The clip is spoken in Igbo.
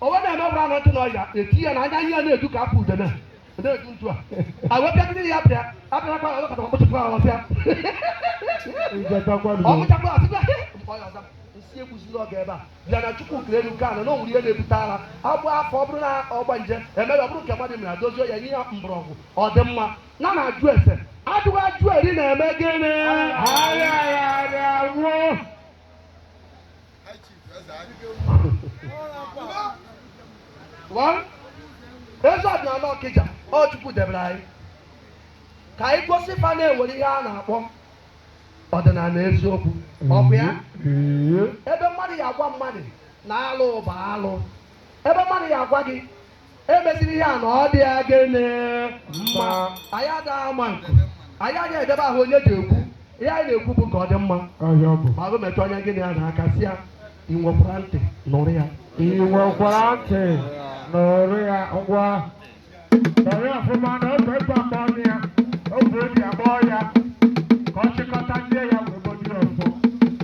o wee na-eme ọbụla na ntị na ọya eti ya na anya ihe na-edu ka afọ udene na-edu ntu a a wee bịagide ya bịa abịarakwa ya ọkọta ọkpụchịkwa ya ọbịa ọkpụchakwa ya ọbịa mgbe ọya ọza nsi egbuzila ọga ebe a bịa na chukwu kere elu kee ana onwere ihe na-ebute ara agbụ afọ ọ bụrụ na ọgbanje mere ọ bụrụ nke mmadụ mere dozie ya nye ya mgbọrọgwụ ọ dị mma na a na-ajụ ese ajụghị ajụ eri na-eme gịnị arịaghị arịa anwụ. eze ọdịnala ọkịja ọ chukwu debere anyị ka anyị gosi fa na e nwere ihe a na-akpọ ọdịnala eziokwu ọ bụ ya ebe mmadụ ya agwa mmadụ na alụ bụ alụ ebe mmadụ ya agwa gị emeziri ihe a na ọ dịghị gịnị mma anyị ada ama nke anyị agaghị eje ebe ahụ onye je-ekwu ihe anyị na-ekwu bụ ka ọ dị mma ọhịa ọ bụ ma agụ metụ onye gịnị ya na aka si ya ị nwekwara ntị nụrụ ya ị nwekwara ntị nụrụ ya ngwa ọrịa ọfụma na ofe ịgba mgba ọnụ ya ofe obi agbọọ ya ka ọ chịkọta ndị ya wee